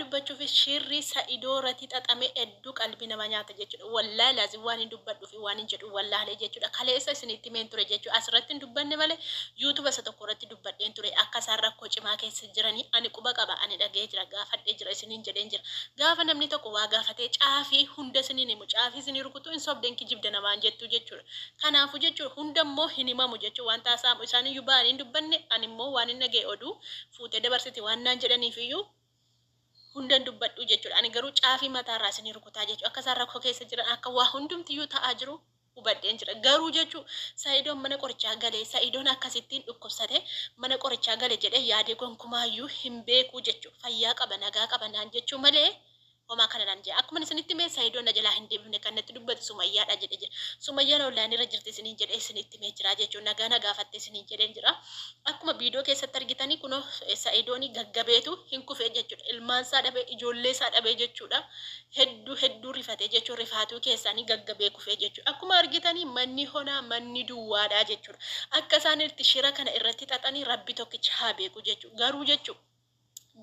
dubbachufi shirri saido irrati xaxame heddu qalbi nama nyaata jechudha wallahi lazim waanin dubbadhufi waanin jedhu wallaale jechudha kaleessa isinitti himeen ture jechu asirratti hin dubbanne male youtube isa tokko irratti dubbadheen ture akka isaan rakkoo cimaa keessa jirani ani quba qaba ani dhaga'ee jira gaafadhee jira isiniin jedheen jira gaafa namni tokko waa gaafatee caafi hunda isiniin himu caafi isinii rukutu hin sobda hin kijibda namaan jettu jechudha kanaafu jechu hunda immoo hin himamu jechu waan taasaamu isaaniyyu ba'anii hin dubbanne ani immoo waanin dhaga'e oduu fuutee dabarsiti waan naan jedhaniif iyyuu hundan dubbadhuu jechuudha. Ani garuu caafii mataa irraa isinii rukutaa jechuu akka isaan rakkoo keessa jiran akka waa hundumtiyyuu ta'aa jiru hubadheen jira. Garuu jechuu Sa'idoon mana qorichaa galee Sa'idoon akkasittiin dhukkubsate mana qorichaa gale jedhee yaadee gonkumaayyuu hin beekuu jechuu fayyaa qaba nagaa qaba naan jechuu malee homaa kana naan jedhe akkuman isinitti mee sayidoon na jalaa hin deebifne kan natti dubbate sumayyaadha jedhe jira sumayyaan online irra jirti isiniin jedhe isinitti mee jira jechuun nagaa na gaafatte isiniin jedheen jira akkuma viidiyoo keessatti argitanii kunoo sayidooni gaggabeetu hin kufee jechuudha ilmaan isaa dhabee ijoollee isaa dhabee jechuudha hedduu hedduu rifatee jechuun rifaatuu keessaanii gaggabee kufee jechuudha akkuma argitanii manni honaa manni duwwaadhaa jechuudha akka isaan itti shira kana irratti xaxanii rabbi tokkicha haa beeku jechuudha garuu jechuudha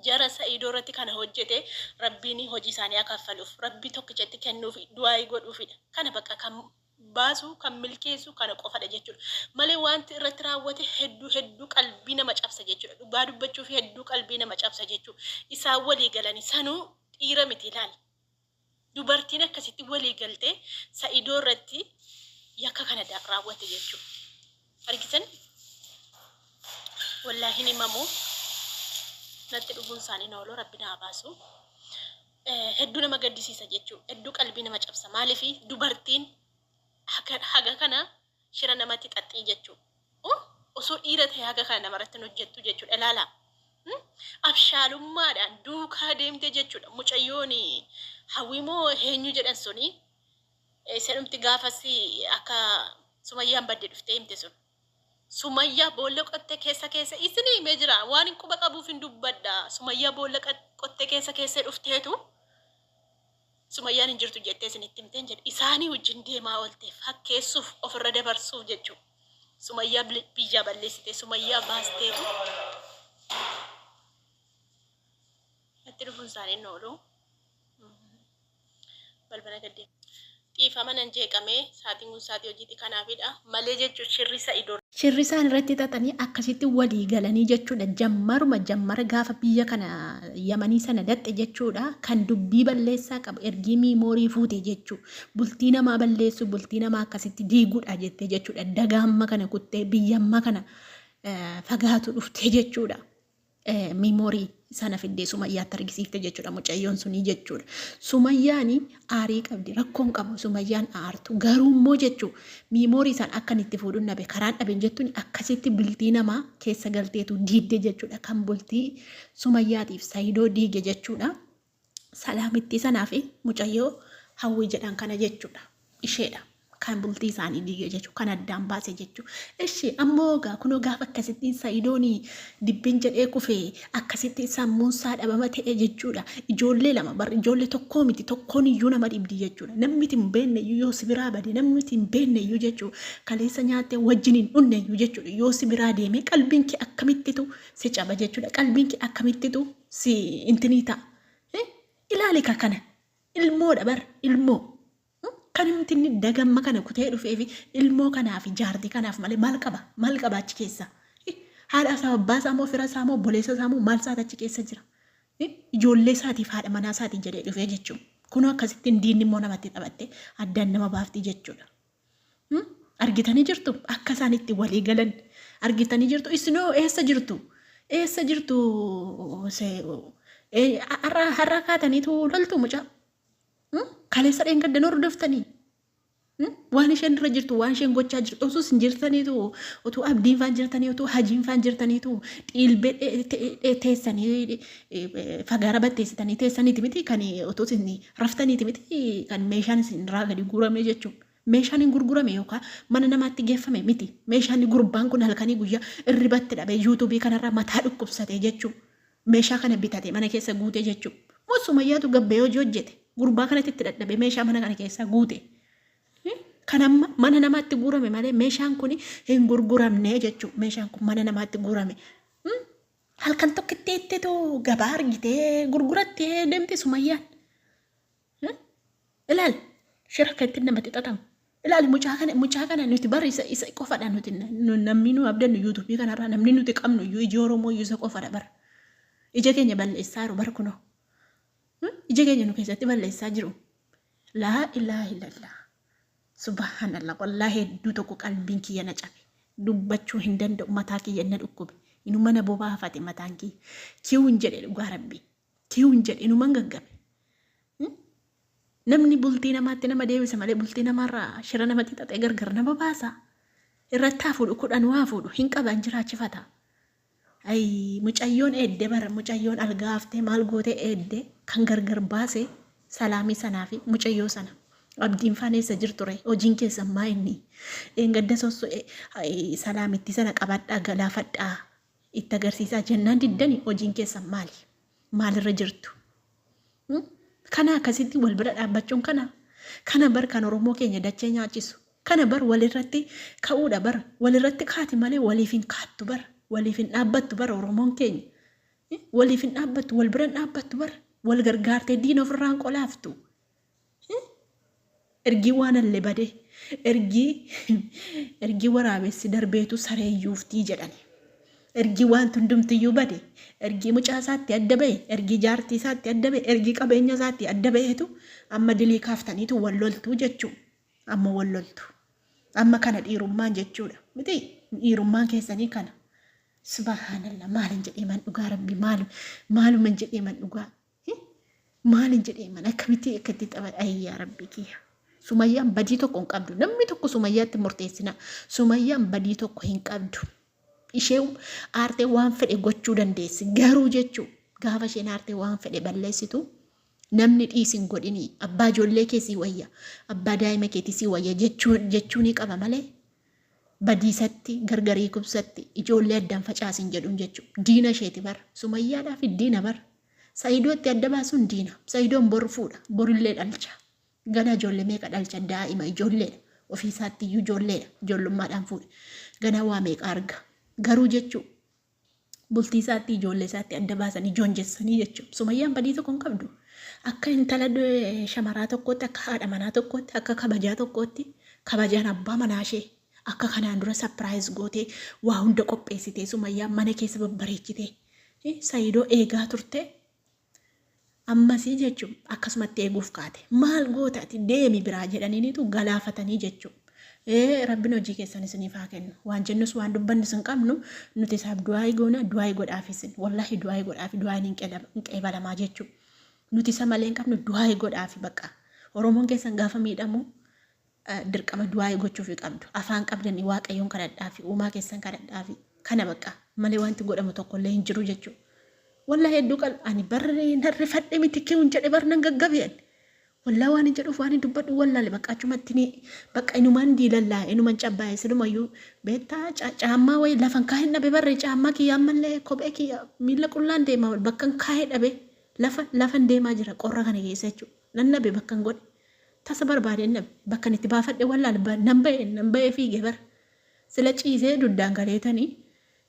Jara sa'ido irratti kana hojjete rabbiini hojii isaani ha kaffaluf rabbi tokkicha itti kennufi du'aayi godhuufidha kana baqa kan baasu kan milkeessu kana qofadha jechudha male waanti irratti raawwate heddu heddu qalbii nama cabsa jechudha dhugaa dubbachufi heddu qalbii nama cabsa jechu isaan walii galani sanu dhiira miti laal Dubartiin akkasitti walii galtee Sa'idoo irratti yakka kana raawwatte jechuudha. Argitan wallaahi hin himamu natti dhufuun isaanii nooloo rabbi naa baasu. Hedduu nama gaddisiisa jechuudha. Hedduu qalbii nama cabsa. Maaliif dubartiin haga kana shira namatti xaxxii jechu u osoo dhiira ta'e haga kana namarratti hin hojjettu jechuudha ilaala Hmm? abshaalummaadhaan duukaa deemte jechuudha mucayyoon hawwimoo eenyu jedhan suni eh, isadhumti gaafas akka sumayyaan badde dhuftee himte sun sumayyaa boolla qottee keessa keessa isin himee jira waan hin quba qabuuf hin dubbadha sumayyaa boolla qat- qottee keessa keessa dhufteetu Sumayyaan hin jirtu jettee isinitti himteen jedhe. Isaanii wajjin deemaa oolte fakkeessuuf ofirra dabarsuuf jechuudha. Sumayyaa bil- biyyaa balleessite. Sumayyaa baasteetu natti dhufuun isaanii hin oolu. Balbala gaddee. Dhiifama nan jeeqamee saatiin kun saatii hojiiti kanaafidha. malee jechuudha shirri sa'ido. Shirri isaan irratti xaxanii akkasitti walii galanii jechuudha jammaruma jammara gaafa biyya kana yamanii sana daqxe jechuudha kan dubbii balleessaa qabu ergii miimoorii fuute jechuu bultii namaa balleessuu bultii namaa akkasitti diiguudha jettee jechuudha dagaa amma kana kuttee biyya amma kana fagaatu dhuftee jechuudha miimoorii sana fiddee sumayyaatti argisiifte jechuudha mucayyoon sunii jechuudha. Sumayyaani aarii qabdi rakkoon qabu sumayyaan aartu garuu immoo jechuu miimoorii sana akkan itti fuudhuun dhabe karaan dhaben jettuun akkasitti bultii namaa keessa galteetu diidde jechuudha kan bultii sumayyaatiif sayidoo diige jechuudha. Salaamittii sanaa fi mucayyoo Hawwii jedhan kana jechuudha. Isheedha. Kan bultii isaanii diige jechuudha. Kan addaan baase jechuudha. Ishi ammoo gaa kunoo gaafa akkasittiin Sayidooni dibbin jedhee kufe akkasittiin sammuun isaa dhabama ta'e jechuudha. Ijoollee lama bar ijoollee tokkoo miti tokkoon iyyuu nama dhibdi jechuudha. Namni itti hin beekne iyyuu yoo si biraa bade namni itti hin beekne iyyuu jechuudha. Kaleessa nyaattee wajjin hin dhunne iyyuu jechuudha. Yoo si biraa deemee qalbiin kee akkamittitu si caba jechuudha qalbiin kee akkamittitu si intinii ta'a Eh, ilaali ka kana ilmoodha bar ilmoo Hmm? kan himti inni dagamma kana kutee dhufeefi ilmoo kanaaf jaartii kanaaf malee maal qaba maal qaba achi keessa Eh, haadha isaa abbaa isaa moo fira isaa moo boleessa isaa moo maal isaati achi keessa jira Eh, ijoollee isaatiif haadha manaa isaatii jedhee dhufee jechuun kunoo akkasittiin diinni immoo namatti taphattee addaan nama baafti jechuudha Hmm? Argitanii jirtu? Akka isaan itti walii galan argitanii jirtu? Isinoo eessa jirtu? Eessa jirtu? Se- ee, Har'a har'a kaataniitu loltu mucaa. Hmm? Kaleessa dheengaddan hordoftanii. Hmm? Waan isheen irra jirtu, waan isheen gochaa jirtu, osoo isin jirtaniitu, utuu abdiin faan jirtanii, utuu hajiin faan jirtaniitu, dhiilbee dhe- te- dhe- teessanii fagaara batteessitanii teessaniiti miti kan otoo isin raftaniiti miti kan meeshaan isin irraa gadi guuramee jechuun meeshaan hin gurgurame yookaan mana namaatti geeffame miti meeshaan gurbaan kun halkanii guyyaa irribatti dhabee yuutuubii kanarraa mataa dhukkubsatee jechuun meeshaa kana bitate mana keessa guute jechuun moo sumayyaatu gabbee hojii hojjete gurbaa kanatti itti dadhabee meeshaa mana kana keessaa guute. Kan amma mana namaatti guurame malee meeshaan kun hin gurguramne jechuun meeshaan kun mana namaatti guurame. Halkan tokkitti ittitu gabaa argitee gurgurattee deemti sumayyaan. Eh? Ilaal shira akka ittiin namatti xaxamu. Ilaal mucaa kana mucaa kana nuti bara isa isa qofadha nuti na- nu- namni nu abdannu yuutuubii kanarraa namni nuti qabnu iyyuu iji Oromoo iyyuu isa qofadha bara. Ija keenya balleessaa jiru bara kunoo. Hmm? Ija keenya nu keessatti balleessaa jiru. Laa ilaaha illallah. Subhanallah wallahi hedduu tokko qalbiin kiyya na cabe dubbachuu hin danda'u mataa kiyya na dhukkube inuma na bobaafate mataan kiyya kiwun jedhe dhugaa rabbii kiwun jedhe inuman gaggabe Hmm? namni bultii namaatti nama deebisa malee bultii namaarraa shira namatti xaxee gargar nama baasa irratti haa fuudhu kudhan waa fuudhu hin qaban jiraachifata Ayii mucayyoon eedde bara mucayyoon algaa haftee maal gootee eedde kan gargar baase salaamii sanaa fi mucayyoo sana abdiin faan eessa jirture hojiin keessan maa inni dheengadda sossu salaamitti sana qabadhaa galaafadhaa itti agarsiisaa jennaan diddani hojiin keessan maali maalirra jirtu Kana akkasitti wal bira dhaabbachuun kana kana bar kan Oromoo keenya dachee nyaachisu kana bar walirratti ka'uudha bar walirratti kaati malee waliif hin kaattu bar waliif hin dhaabbattu bar Oromoon keenya waliif hin dhaabbattu wal bira hin dhaabbattu bar wal gargaartee diina ofirraan qolaaftu Ergii waanalle bade ergii ergii waraabessi darbeetu saree yuuftii jedhani. Ergii waanti hundumtiyyuu bade ergii mucaa isaatti adda ba'e ergii jaartii isaatti adda ba'e ergii qabeenya isaatti adda ba'eetu amma dilii kaaftaniitu wal loltuu jechuu amma wal loltu. Amma kana dhiirummaan jechuudha miti dhiirummaan keessanii kana. Subhaanallah maalin jedhee man dhugaa rabbi maal maaluma jedhee man dhugaa Maalin jedhee mana akkamitti akka itti xaba ayyaa rabbi kiyya. Sumayyaan badii tokko hin qabdu. Namni tokko sumayyaatti murteessina. Sumayyaan badii tokko hin qabdu. Ishee aartee waan fedhe gochuu dandeessi. Garuu jechuu gaafa isheen aartee waan fedhe balleessitu namni dhiisin godhini abbaa ijoollee kee sii wayya abbaa daa'ima keetii sii wayya jechuu ni qaba malee badiisatti gargarii kubsatti ijoollee addan facaasin jedhun jechu diina isheeti bar sumayyaadhaafi diina bar saidoo itti adda baasun diina saidoon bor fuudha borillee dhalcha ganaa ijoollee meeqa dhalcha daa'ima ijoolleedha ofii isaatti iyyuu ijoolleedha ijoollummaadhaan fuudhe ganaa waa meeqa arga garuu jechu bultii isaatti ijoollee isaatti adda baasanii joonjessanii jechuudha. Sumayyaan badii tokko hin qabdu. Akka intala eh, shamaraa tokkootti, akka haadha manaa tokkootti, akka kabajaa tokkootti kabajaan abbaa manaa ishee akka kanaan dura sapiraayiz gootee waa hunda qopheessitee sumayyaan mana keessa babbareechitee eh, sayidoo eegaa turte Ammasii jechu akkasumatti eeguuf kaate. Maal goota ati deemi biraa jedhaniiniitu galaafatanii jechu. Ee rabbin hojii keessan isiniif haa kennu. Waan jennus waan dubbannus hin qabnu nuti isaaf du'aayi goona du'aayi godhaaf isin. Wallahi du'aayi godhaafi du'aayin hin qedam- hin qeebalamaa jechu. Nuti isa malee hin qabnu du'aayi godhaafi baqa. Oromoon keessan gaafa miidhamu dirqama du'aayi gochuufi qabdu afaan qabdani waaqayyoon kadhadhaafi uumaa keessan kadhadhaafi kana baqqa malee waanti godhamu tokkollee hin jiru jechuu wallahi hedduu qalb ani bar nan rifadhe miti kiun jedhe bar nan gaggabe ani wallahi waan hin jedhuuf waan hin dubbadhu wallaale baqqa achumatti ni baqqa inumaan diilallaa inuman cabbaa'e silumayyuu beektaa ca- caammaa wayii lafan kaa'een dhabe barre caammaa kiyya ammallee kophee kiyya miila qullaan deema bakkan kaa'ee dhabe lafa lafan deemaa jira qorra kana keessa jechuudha nan dhabe bakkan godhe Tasa barbaadeen dhabe. Bakkan itti baafadhe wallaale. Nan ba'e, nan ba'ee fiige bar. Sila ciisee duddaan galeetani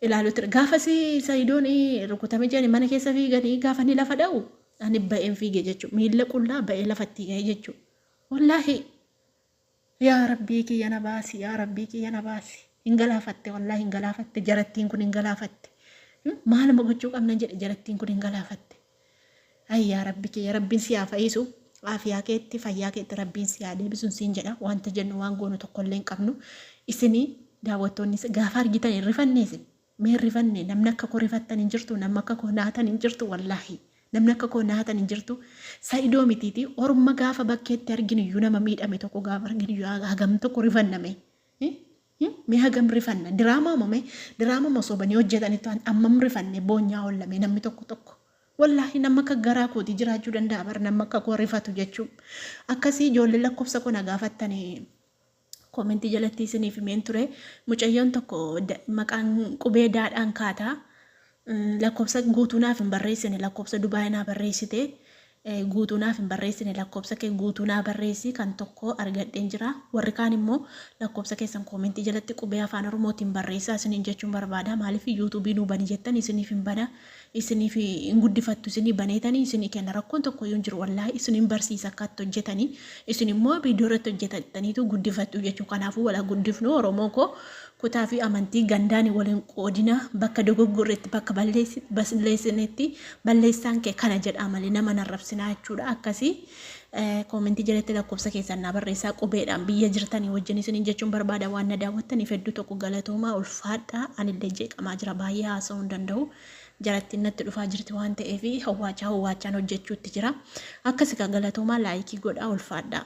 ilaaluu ture. Gaafasi Sayidoon rukutame jedhani mana keessa fiigani gaafa inni lafa dha'u ani ba'een fiige jechu. Miilla qullaa ba'ee lafattii ka'e jechu. Wallaahi yaa rabbii kiyya na baasi, yaa rabbii kiyya na baasi. Hin galaafatte wallaahi hin galaafatte jarattiin kun hin galaafatte. Maaluma gochuu qabnan jedhe jarattiin kun hin galaafatte. Ayii yaa rabbi kiyya rabbiin si haa fayiisu aafiyaa keetti fayyaa keetti rabbiin si haa deebisun siin jedha wanta jennu waan goonu tokkollee hin qabnu isini daawwattoonni gaafa argitan hin rifannee isin mee hin rifannee namni akka koo rifattan hin jirtu namni akka koo naatan hin jirtu wallaahi namni akka koo naatan hin jirtu sa'idoo mitiiti orma gaafa bakkeetti arginu iyyuu nama miidhame tokko gaafa arginu iyyuu hagam tokko rifanname Hi hi mee hagam rifanna diraamaa mo mee diraama mo sobanii hojjatanitu an ammam rifanne boonyaa olla mee namni tokko tokko wallahi namma akka garaa kooti jiraachuu danda'a bar namma akka koo rifatu jechuu akkasii ijoollee lakkofsa koo na gaafattani koomentii jalatti isiniif himeen ture mucayyoon tokko da- maqaan qubee daadhaan kaataa Lakkofsa guutuu naaf hin barreessine lakkofsa dubai naa barreessite guutuu naaf hin barreessine lakkofsa kee guutuu naa barreessi kan tokkoo argadheen jira warri kaan immoo lakkofsa keessan koomentii jalatti qubee afaan oromootiin barreessaa isiniin jechuun barbaada maaliif yuutuubii nuu bani jettan isiniif hin bana isiniif hin guddifattu isinii baneetanii isinii kenna rakkoon tokko iyyuu hin jiru wallaahi isiniin barsiisa akka itti hojjetanii isin immoo viidiyoo irratti hojjetataniitu guddifattu jechuu kanaafuu wala guddifnu oromoo koo Kutaa fi amantii gandaan wal hin qoodinaa, bakka dogoggorre itti bakka balleessinetti balleessaan kee kana jedhaa malee nama hin arrabsinaa jechuudha. Akkasii koomentii jalatti lakkoofsa keessan naa barreessaa qubeedhaan biyya jirtanii wajjin isiniin jechuun barbaada waan na daawwattaniif hedduu tokko galatoomaa ulfaadhaa anillee jeeqamaa jira baay'ee haasa'uu hin danda'u. jarattiin natti dhufaa jirti waan ta'eef hawwaachaa hawwaachaan hojjechuutti jira. Akkasi kaa galatoomaa laayikii godhaa ulfaadhaa.